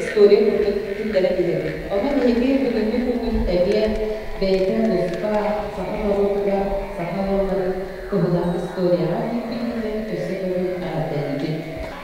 история курдук киллэрэ билэбит. Ону биһиги бүгүҥҥү күҥҥүн тэриэ бэйэтин туспа саха норуотугар саха ыалларын туһунан историяҕа киирбитинэн өссө төгүл эҕэрдэлиибит.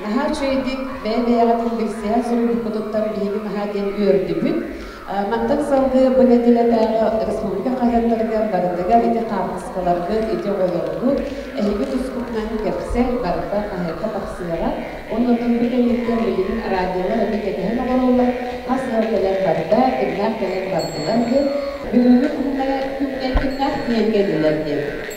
Наһаа үчүгэйдик, бэйэ-бэйэҕитин билсиһэн суруйбуккутуттан биһиги наһаа диэн үөрдүбүт. Мантан салгыы бу нэдиэлэтээҕи республика хаһыаттарыгар барытыгар ити хаартыскаларгыт, ити оҕолоргут эһиги тускутунан кэпсэл барыта хаһыакка тахсыаҕа. Оннуттан бу кэнниттэн билигин радиолар эбэ кэтэһэн оҥороллор, хас ыал кэлэн барда, кимнээх кэлэн бардылар диэн бүгүҥҥү күҥҥэ кимнээх киэнгэ этилэр диэн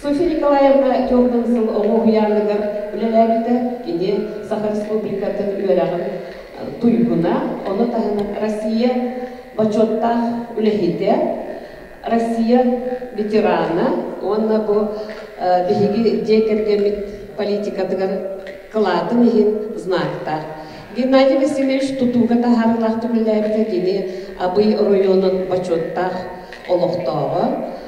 Софья Николаевна Тёрдон сыл оҕо уһуйааныгар үлэлээбитэ, кини Саха Республикатын үөрэҕин туйгуна, ону таһынан Россия бочуоттаах үлэһитэ, Россия ветерана уонна бу биһиги дьиэ кэргэммит политикатыгар кылаатын иһин знактаах. Геннадий Васильевич тутууга таһаарыылаахтык үлэлээбитэ кини Абый оройуонун бочуоттаах олохтооҕо.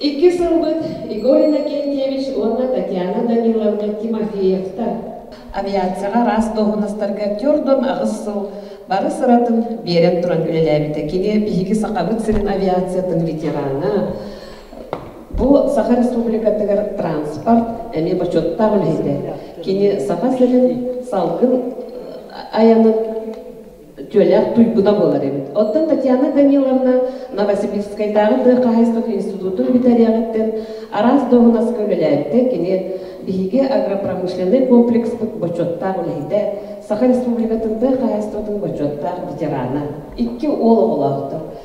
Икки сылбыт Игорь Иннокентьевич уонна Татьяна Даниловна Тимофеевтар. Авиацияҕа араас дуоһунастарга түөрт-уон аҕыс сыл бары сыратын биэрэн туран үлэлээбитэ. Кини биһиги Сахабыт сирин авиациятын ветерана, бу Саха Республикатыгар транспорт эмиэ бочуоттаах үлэһитэ. Кини Саха сирин салгын айанын дьүөлээх туйгута буолар эбит. Оттон Татьяна Даниловна Новосибирскайдааҕы тыа хаһаайыстыбатын институтун бүтэриэҕиттэн араас дуоһунаска үлэлээбитэ, кини биһиги агропромышленнай комплекспыт бочуоттаах үлэһитэ, Саха Республикатын тыа хаһаайыстыбатын бочуоттаах ветерана, икки уол оҕолоохтор.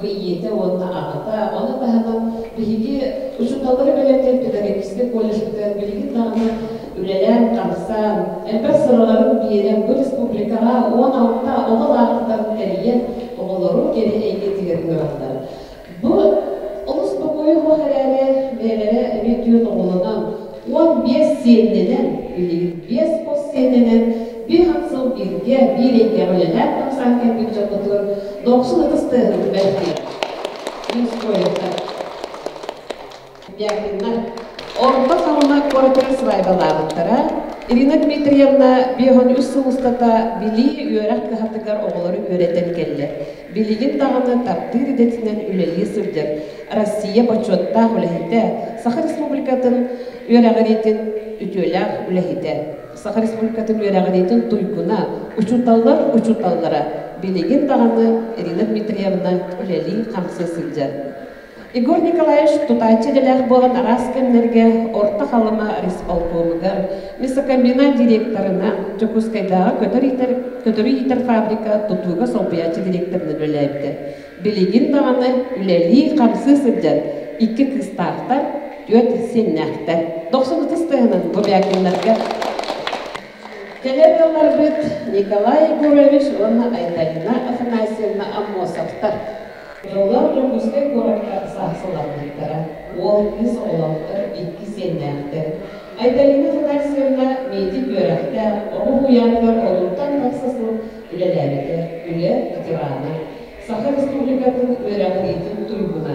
бу ийэтэ уонна аҕата, ону таһынан биһиги учууталлары бэлэмниир педагогическай колледжбытыгар билигин даҕаны үлэлээн-хамсаан, элбэх сыраларын биэрэн бу республикаҕа уон алта оҕо лаахтытарын тэрийэн, оҕолору кэрэ эйгэтигэр үөрэллэр. Бу олус бокуойуох эрээри, бэйэлэрэ эбии түөрт оҕолонон, уон биэс сиэннэнэн, билигин биэс хос сиэннэнэн, биир хам сыл бииргэ, биир эйгэҕэ үлэлээн бырахсаан кэлбит дьоммутун дохсун ытыс тыаһын түбэһиэ. Мирскоевтар. Мягкиннар. Орто Халыма куоратыгар сыбаайбалаабыттара. Ирина Дмитриевна биэһон үс сыл устата билии, үөрэх кыһатыгар оҕолору үөрэтэн кэллэр. Билигин даҕаны тардыы идэтинэн үлэлии сылдьар Россия бочуоттаах үлэһитэ, Саха Республикатын үөрэҕириитин үтүөлээх үлэһитэ, Саха Республикатын үөрэҕириитин туйгуна, учууталлар учууталлара билигин даҕаны Ирина Дмитриевна үлэлии-хамсыы сылдьар. Егор Николаевич тутааччы идэлээх буолан араас кэмнэргэ Орто Халыма рисполкомугар, Месокомбина директорына, Дьокуускайдааҕы көтөр иитэр фабрика тутууга солбуйааччы директорынан үлэлээбитэ. Билигин даҕаны үлэлии-хамсыы сылдьан икки кыыстаахтар, түөрт сиэннээхтэр. Дохсун ытыс тыаһынан Гобякиннарга Кэлэр ыалларбыт Николай Егорович уонна Айдаина Афанасьевна Аммосовтар Оҕолор Дьокуускай куоракка саахсылламмыттара, уол-кыыс оҕолоохтор икки сиэннээхтэр. Айталина Федосьевна миэтик үөрэхтээх, оҕо уйааныгар орунтан тахса сыл үлэлээбитэ, үлэ ветерана, Саха Республикатын үөрэҕириитин туйгуна.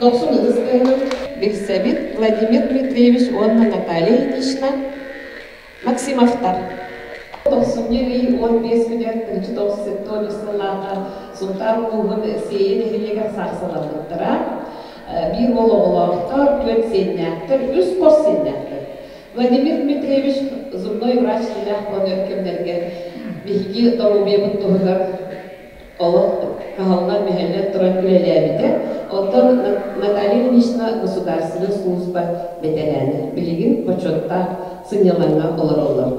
Дохсун ыстыһынан билсэбит Владимир Дмитриевич уонна Наталья Ильинична Максимовтар. Дохсунньу ый уон биэс күнүгэр кырдьы тоҕус сыллааҕа Сунтаар улууһун Сиэйэ нэһилиэгэр саахсалламмыттара. Биир уол оҕолоохтор, түөрт сиэннээхтэр, үс хос сиэннээхтэр. Владимир Дмитриевич зубной врач сүрдээх буолар кэмнэргэ биһиги доруобуйабыт туһугар Ол кыһаллан мөһөллөн туран үлэлээбитэ. Оттон Наталья Ильинична государственнай сулууспа бэтэрээнэ. Билигин бочуоттаах сынньалаҥҥа олороллор.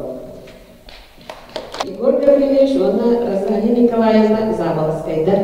Егор Гаврильевич уонна Розалия Николаевна Заболоцкайдар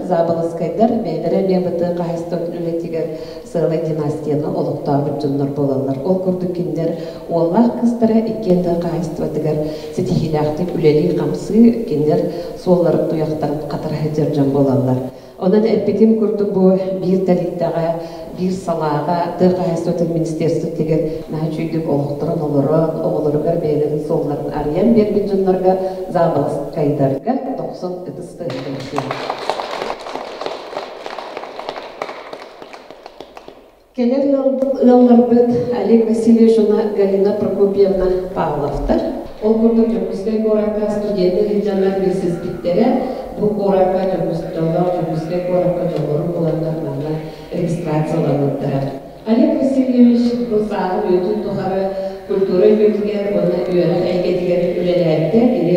Заболоскайдар бэйэлэрэ ЛЕБТ хаһыстыбатын үлэтигэр сыалай династияны олохтообут дьоннор болаллар. Ол курдук киндер уоллаах кыстара иккиэн да хаһыстыбатыгар ситиһиилээхтик үлэлии-хамсыы киндер суолларын туйахтарын хатара сылдьар дьон болаллар. Онон эппитим курдук бу биир тэрилтэҕэ, биир салааҕа, тыа хаһаайыстыбатын министиэрствотыгар наһаа үчүгэйдик олохторун олорон, оҕолоругар бэйэлэрин суолларын арыйан биэрбит дьоннорго, заобаласкайдарга дохсун ытыс тыаһын Кэлэр ыалларбыт Олег Васильевич уонна Галина Прокопьевна Павловтар, ол курдук Дьокуускай куоракка студенты сыдьаннар билсиспиттэрэ, бу куоракка Дьокуускайга Дьокуускай куоракка дьоҕурун буланнар манна регистрацияламмыттара. Олег Васильевич бу сааһы үөтүн тухары культура үөһүгэр уонна үөрэх эйгэтигэр үлэлээбитэ, кини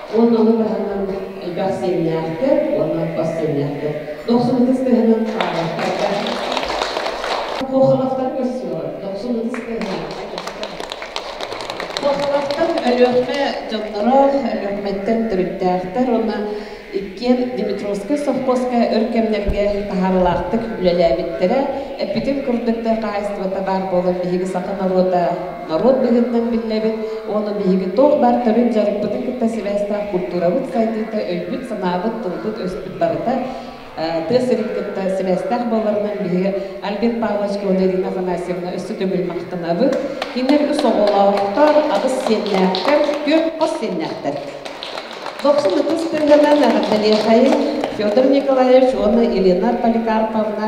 Уон доллар таһынан элбэх сиэннээхтэр уонна бас сиэннээхтэр дохсунутыс тыһынан хаалбаттарга кохалахтар көссүөҕү дохсунутыс тыһынан Кохалахтар Өлүөхмэ дьонноро, Өлүөхмэттэн төрүттээхтэр уонна иккиэн Димитровскай совхозка өр кэмнэргэ таһаарылаахтык үлэлээбиттэрэ. Эппитин курдук, хаһаайыстыбата баар буолан биһиги саха норуота норуот быһыытынан биллэбит уонна биһиги туох баар төрүт-дьарыкпытын кытта сибээстээх култуурабыт сайдыыта, өйбүт-санаабыт, тылбыт-өспүт барыта тыа сирин кытта сибээстээх буоларынан биһиги Альбин Павлович Клодерина Афанасьевна өссө төгүл махтанабыт. Кинилэр үс оҕолоохтор, аҕыс сиэннээхтэр, түөрт хос сиэннээхтэр. Дохсун ытыс тыһынан эҕэрдэлиэхэйин Федор Николаевич уонна Елена Поликарповна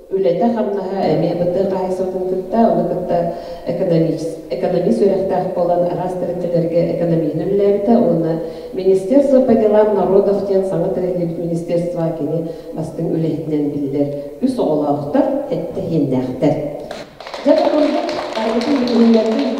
үлэтэ-хамнаһа эмиэ бытыы хаһаайыстыбатын кытта, ону кытта экономист үөрэхтээх буолан араас тэрилтэлэргэ экономиһин үлэлээбитэ уонна Министерство по делам народов диэн саҥа тэриллибит министерство кини бастыҥ үлэһитинэн биллэр үс оҕолоохтор, эттэһииннээхтэр. Дьэ, бу курдук барыбытын билиһиннэрбит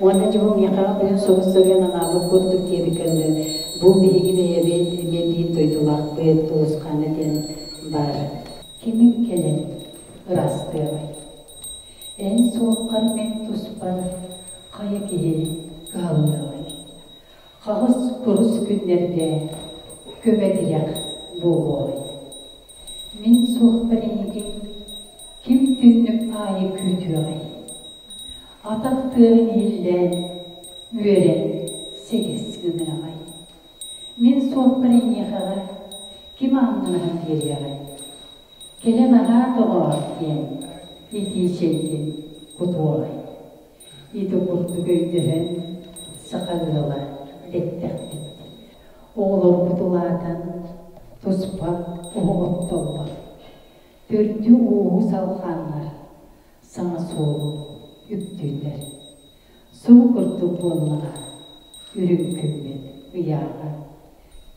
Уонна дьоһун миэхэҕэ кыһын соҕус сөрүөн анаабыт курдук диэбиккэ дылы, бу биһиги бэйэбит биирдиин дойдулаахпыт Тулусхаана диэн баар. Кимиҥ кэлэн ыраастыаҕай? Эн суоххар мин туспар хайа киһи кыһаллыаҕай? Хаҕыс курус күннэргэ көмө-тиһэх буолуоҕай? Мин суохпун эйигин ким түннүк аайы күүтүөҕэй? Атах тыаһын иһиллээн үөрэн сэгис гыныаҕай? Мин суохпун эйиэхэҕэ ким аҥыныһан биэриэҕэй? Кэлэн аһаа доҕоор диэн итии чэйгин кутуоҕай? Ити курдук өйдөһөн саха ыала эттэхпит. Оҕолорбут улаатан, туспа оҕоҕоттоллор. Төрдү-ууһу салҕааннар саҥа суолу үктүүллэр. Сурук курдук буоллаҕа, үрүҥ күммүт ыйааҕа.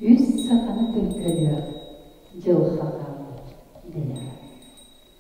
Үс саханы төлкөлүөх дьылҕа хааммыт дэнэҕэ.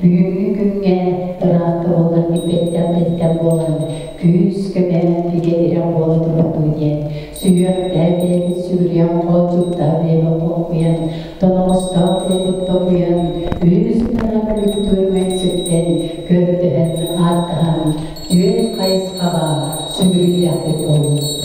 Бүгүҥҥү күҥҥэ ыраахта буоллар билбэттэн-билбэт буолан, күүс, кэпээн бигэ ирэ буола турдуу диэн, сүһүөхтэһэ бэйэбит сүгүрүйэн хол чуптаһа бэйэбит хохкуйан, тоноҕостоох бэйэбит токуйан, үлүбүстэнэ бүрүкүтүөрүмэй сүктэн, көрдөһөн, ааттаһан, түөн хайысхаҕа сүгүрүйдэхпит буолбут.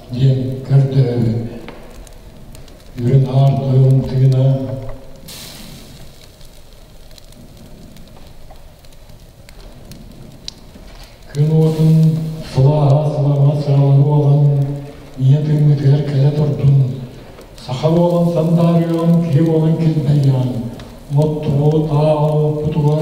диэн көрдөһөрү Үрүн Аар Тойон тыына күн уотун сылааһа сылаҕа сыраҕа буолан ийэ тыыммытыгар кэлэ турдун саха буолан сандаарыйан киһи буолан килбэйээн моттору тааҕа оппутугар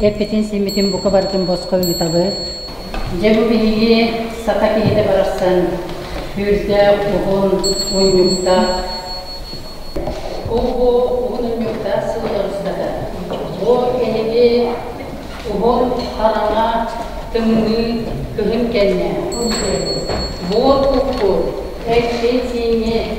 эппитин-симмитин бука барытын босхо ыытабыт. Дьэ бу биһиги саха киһитэ барахсан түүрдээх, уһун, унньуктаах. Уһу, уһун унньуктаах сыл устата. Бу эһиги уһун хараҥа, тымныы, кыһын кэннэ. Буор укку, эксиэсиини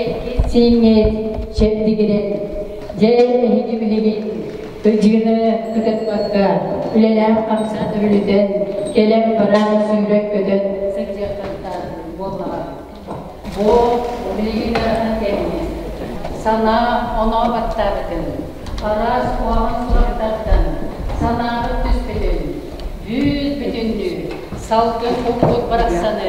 Эппит-сииҥҥит чэбдигирэн, дьэ эһиги билигин ыдьыыны ытатбакка үлэлээх-хамсаах өрүлүтэн, кэлэн-баран сүүрэн-көтөн сылдьыахтантан буоллаҕа. Бу билигин ыарахан кэмҥэ санаа оноо баттаабытын, араас уһаҕан сурахтартан санааҕыт түспүтүн, бүүс бүтүннүү салгын укпут барахсаны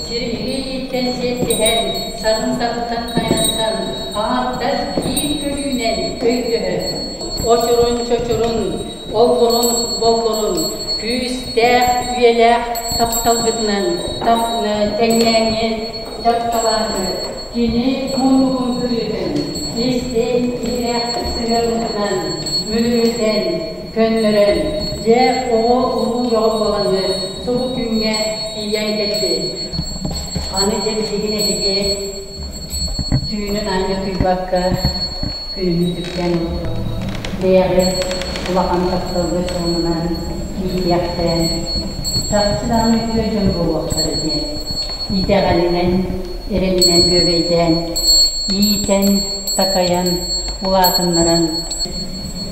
Силиһи илииттэн сиэттиһэн, саҥын таһыттан хайатан, аҥардас киин көлүүнэн өйдөһөн, очурун-чочурун, оллурун-боллурун күүстээх, үйэлээх тапталгытынан таҥны, тэҥнээҥҥи дьарыкталаары кини муннугун бүрүтэн, истиҥ, иһирэх сыһыанытынан мүрүтэн, көннөрөн, дьэ, оҕо улуу бөҕө буоланнар, субу күҥҥэ тиийэн кэлбит. Аны дьэ билигин эһиги түүнүн аанньа утуйбакка күнүнү түргэн бэйэҕит улахан тапталга суолунан иитиэхтээн чахчы даҕаны үтүө дьон буолуохтара диэн итэҕэлинэн, эрэнинэн күөбэйдээн, иитэн, такайан, улаатыннаран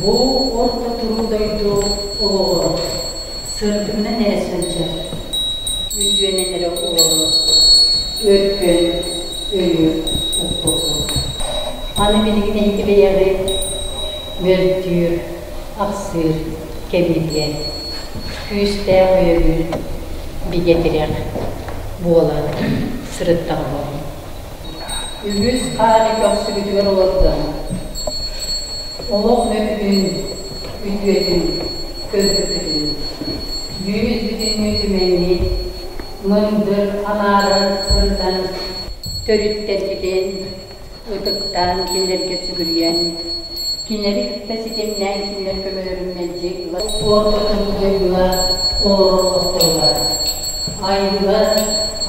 Бу орто туруу дойду олоҕо сырдыгынан эрэ сылдьар, үтүөнэн эрэ олорор өркөн өйү укпутум. Аны билигин эһиги бэйэҕит мөлтүүр, ахсыыр кэмигиэн, күүстээх өйөбүл бигэ тирэх буолан сырыттаҕа буолуҥ. Үһүс хааны көхсүбүтүгэр олордон, олох мөкүтүн, үтүөтүн көрбүппүтүн, үүммүтбүтүн мүчүмэннии, мындыр аҥаарын ырытан, төрүттэрбитин ытыктаан кинилэргэ сүгүрүйэн, Кинилэри кытта ситимнээн күннэргэ көрөрүммүн дьиҥ уотутун дьайыылаах олороллохторугар айылгылар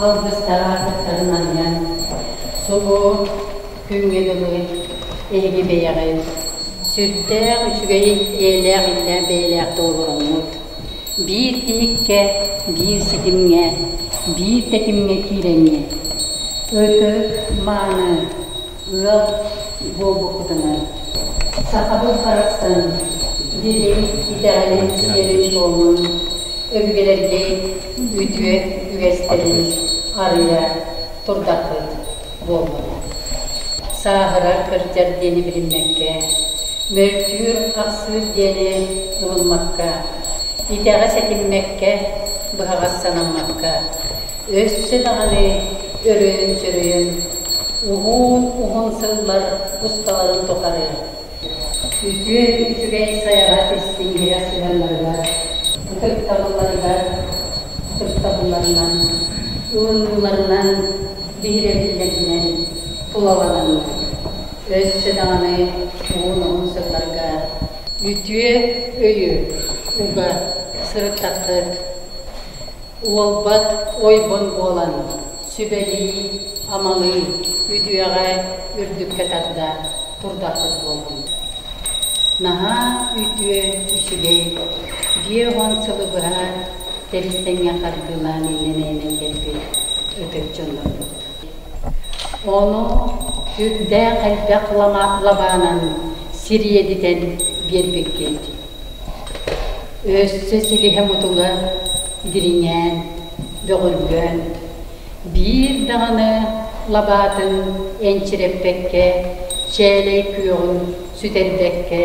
алгыстара аттарын анньан субу күҥҥэ дылы эһиги бэйэҕит сүрдээх үчүгэй эйэлээх иллэ бэйэлээхтик олороҥҥут биир тиһиккэ биир ситимҥэ биир тэтимҥэ киирэҥҥит өтө мааны ыал буолбуппутунан сахабыт барахсан дириҥ итэҕэлин сиэрин-туомун, өбүгэлэрбит үтүө үгэстэрин арыйа турдахпыт буоллулар. Сааһыра кырдьар диэни билиммэккэ, мөлтүүр-ахсыыр диэни ылыммакка, итэҕэ сэтиммэккэ, быһаҕас санаммакка, өссө даҕаны өрөйөн-сөрөйөн Уһуун уһун сыллар усталарын тухары үтүө үчүгэй хайаҕа тистииһирэ сыһыаннарыгар, ытыктабылларыгар ытыктабылларынан, ылынууларынан, биһирэтиилэринэн тулалананнар, өссө даҕаны уһун-уһун сылларга үтүө өйү, уга сырыттаххыт, Уолбат ойбон буолан, сүбэлии, амалыы, үтүөҕэ үрдүккэ тарда турдахпыт буоллун. Наһаа үтүө, үчүгэй, биэ-уон сылы быһа тэбис-тэҥҥэ хардыылаан иннэнээмэн кэлбит ытык дьоннорбут. Ону үрдээх элбэх лабаанан сириэдитэн биэрбиккит Өссө силиһэ-мутуга дириҥээн, бөҕүллүөн, биир даҕаны лабаатын энчирэппэккэ, чээлэй күөҕүн сүтэрбэккэ,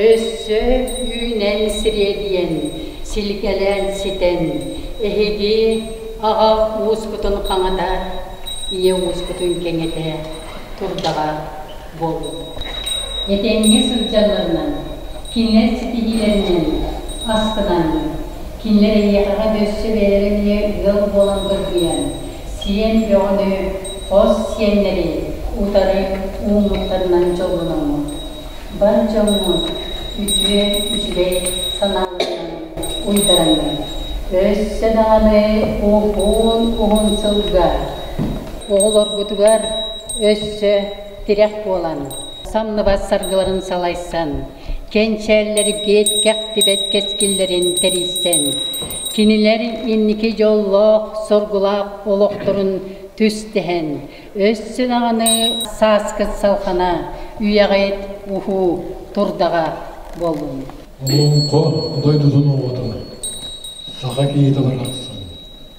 өссө үүнэн сириэдийэн, силикэлээн ситэн, эһиги аҕа ууспутун хаҥатар, ийэ ууспутун кэҥэтэ турдаҕа. буолбут. Этэҥҥэ сылдьалларынан, кинилэр ситиһиилэринэн астынан, кинилэр эйиэхэҕэ да өссө бэйэлэрэ эмиэ ыал буолан былдьыйан, сиэн бөҕөнү, хос сиэннэри утары ууммуттарынан дьоллономмут. Бар дьоҥҥут үтүө, үчүгэй санааларынан уйдараҥҥыт. Өссө даҕаны уһун, уһун сылга оҕолоргутугар өссө тирэх буолан, самныбат саргыларын салайсан, кэнчээллэри биэт-кэхтибэт кэскиллэрин тэрийсэн, кинилэр инники дьоллоох-соргулаах олохторун түстэһэн, өссө даҕаны сааскыт салхана, үйэҕит-ухуу турдаҕа буоллун! Олоҥхо дойдутун оҕотун саха киһитэ барахсан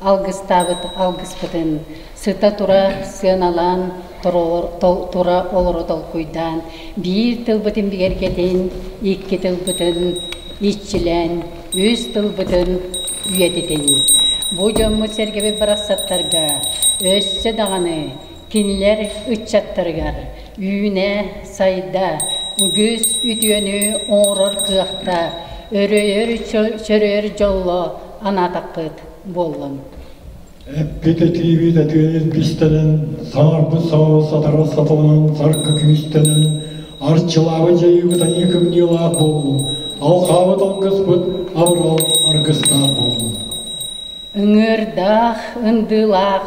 алгыстаабыт алгыспытын, сыта-тура сыаналаан, тура олору толкуйдаан, биир тылбытын бигэргэтин, икки тылбытын иччилээн, үс тылбытын үйэтитин. Бу дьоммут-сэргэбит барахсаттарга өссө даҕаны Кинилэр ыччаттарыгар үүнэ, сайда, үгүс үтүөнү оҥорор кыахтаах, өрөйөр дьоллоох анаатахпыт буоллун. Эппит этиибит этиэбит бистэнэн, саҥарбыт саҕа сатара сатабынан саргы күүстэнэн, арчылаабыт дьайыыбыт аньыы кымньыылаах буоллун, алҕаабыт алгыспыт абырал аргыстаах буоллун. Ыҥыырдаах, ындыылаах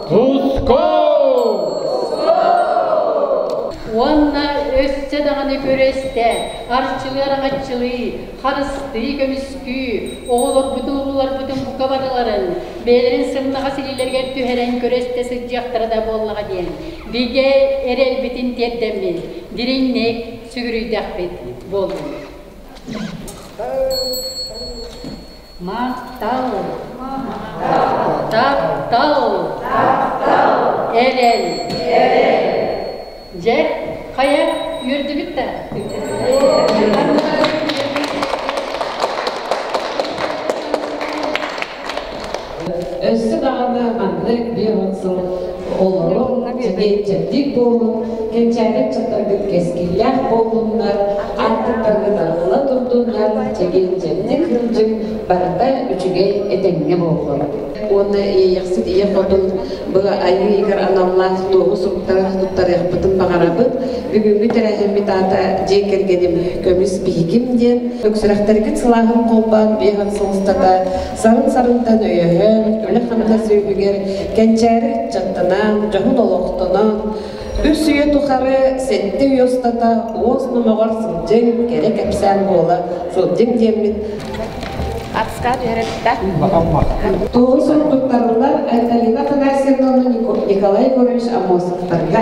Куско! Уонна өссө даҕаны күрэстэ, арчылыар аччылыы, харыстыы, көмүскүү, оҕолорбутун-оҕолорбутун бука барыларын, бэйэлэрин сымнаҕас илиилэригэр түһэрэн күрэстэ сылдьыахтара да буоллаҕа диэн, бигэ эрэлбитин тиэрдэммит, дириҥник сүгүрүйдэхпит буоллун. Махтал! Таптал! Эрэл! Дьэ, хайа үөрдүбүт да? Өссө даҕаны маннык биир он сыл олорон дьиҥ буолун кэнчээри чатаргыт кэскиллээх буоллуннар аттыктаргыт арылла турдуннар чэгиндьэник кырдьык барыта үчүгэй этэҥҥэ буоллун уонна иэйэхсит ийэ хотун бу айыы игэр аналлаах туоһу суруктары туттарыахпытын баҕарабыт бүгүҥҥү тэрээһиммит аата дьиэ кэргэним көмүс биһигим диэн өксүрэхтэргит сылааһын холбоон биэһин сылыстата Сарын-сарынтан өйөһөн, үлэ-хамнас үөһүгэр кэнчээри ыччаттанан, дьоһун олохтонон, үс үйэ тухары сэттэ үйэ устата уос номоҕор сылдьыҥ, кэрэ кэпсээн буола сылдьыҥ диэммит Атска Беретта. Тугун сурдуктарылар Айталина Афанасьевна Николай Егорович Амосовтарга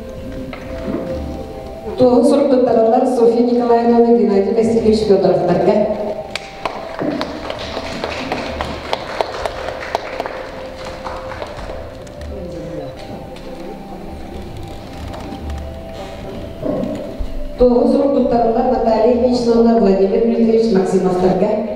Туоһу суруккуттарылар Софья Николаевна Геннадий Васильевич Федоровтарга. Туоһу суруккуттарылар Наталья Ильичновна Владимир Дмитриевич Максимовтарга.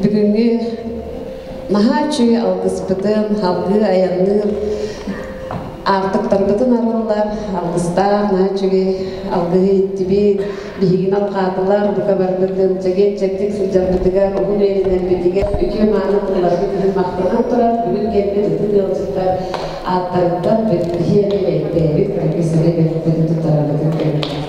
Бүгүҥҥү наһаа үчүгэй алгыспытым, салгыы айанныыр аартыктарбытын арыллар, алгыстаах наһаа үчүгэй алгыһы иттибит, биһигин алҕаатылар, бука барбытын чэгиэн-чэбдик сылдьарбытыгар, уһун үөрэнэрбитигэр, үтүө-мааны тылларбыт иһин махтанан турар, бүгүн кэлбит бүтүн ыалдьыттар ааттарыттан биһиэхэ бэйдээбит, бүкү силэ бэртин тутарбытын көрүннүр.